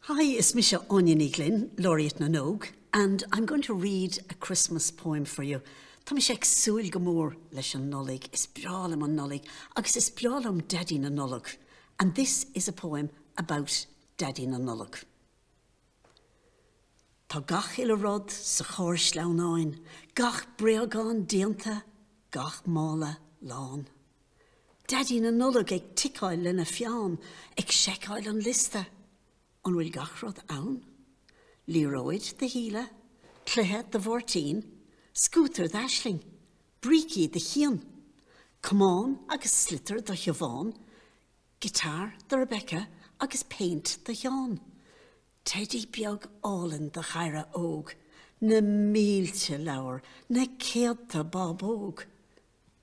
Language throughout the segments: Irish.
Hi, is mise Áine Ní Ghlinn, Laureate na nÓg, and I'm going to read a Christmas poem for you. Tá mise ag súil go mór leis an Nollaig, is breá liom an Nollaig agus is breá liom Daidí na Nollag, and this is a poem about Daidí na Nollag. Tá gach uile rud sa charr sleamhnáin, gach bréagán déanta, gach mála lán. Daidí na Nollag ag ticeáil lena pheann ag seiceáil an liosta. An bhfuil gach rud ann? Liathróid do Shíle, cluiche do Mháirtín, scútar d'Aisling, brící do Chian, camán agus sliotar do Shiobhán, guitar do Rebecca agus péint do Sheán. Teidí beag álainn do Dhaire Óg. Na mílte leabhar, na céadta bábóg.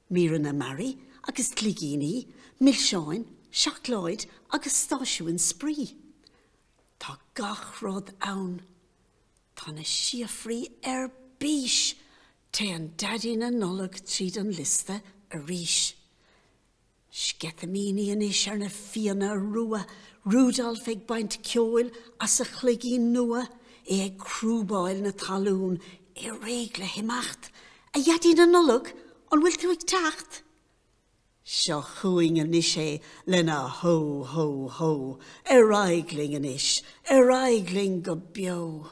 Míreanna mearaí agus gligíní, milseáin, seacláid agus stáisiún spraoi. Tá gach rud ann. Tá na síofraí ar bís! Téann Daidí na Nollag tríd an liosta arís. Sceitimíní anois ar na fianna rua, Rudolf ag baint ceoil as a chloigín nua, é ag crúbáil na talún, é réidh le himeacht. A Dhaidí na Nollag, an bhfuil tú ag teacht? Seo chugainn anois é lena Hó! Hó! Hó! Ar aghaidh linn anois, ar aghaidh linn go beo!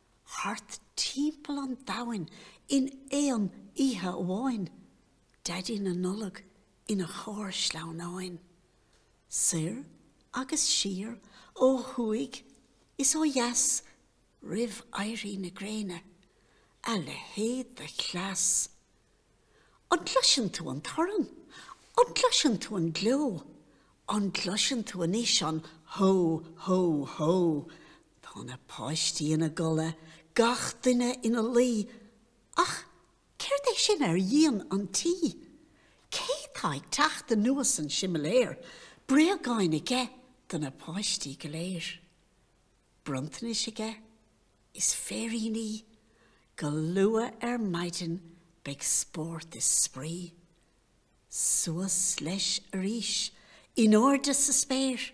thart timpeall an domhain in aon oíche amháin, Daidí na Nollag ina charr sleamhnáin, soir agus siar, ó thuaidh is ó dheas, roimh éirí na gréine, a leithéid de chleas! An gcloiseann tú an torann? An gcloiseann tú an gleo? An gcloiseann tú anois an 'Hó! Hó! Hó! Tá na páistí ina gcodladh, gach duine ina luí. Ach céard é sin ar dhíon an tí? Cé tá ag teacht anuas an simléar? Bréagáin aige do na páistí go léir? Bronntanais aige? Is féiríní? Go luath ar maidin beidh spórt is spraoi. Suas leis arís, in airde sa spéir.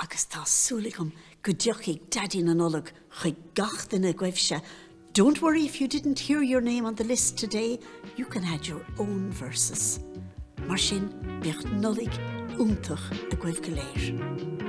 Agus tá súil agam go dtiocfaidh Daidí na Nollag chuig gach duine agaibhse, Don't worry if you didn't hear your name on the list today, you can add your own verses. Mar sin, bíodh Nollaig iontach agaibh go léir.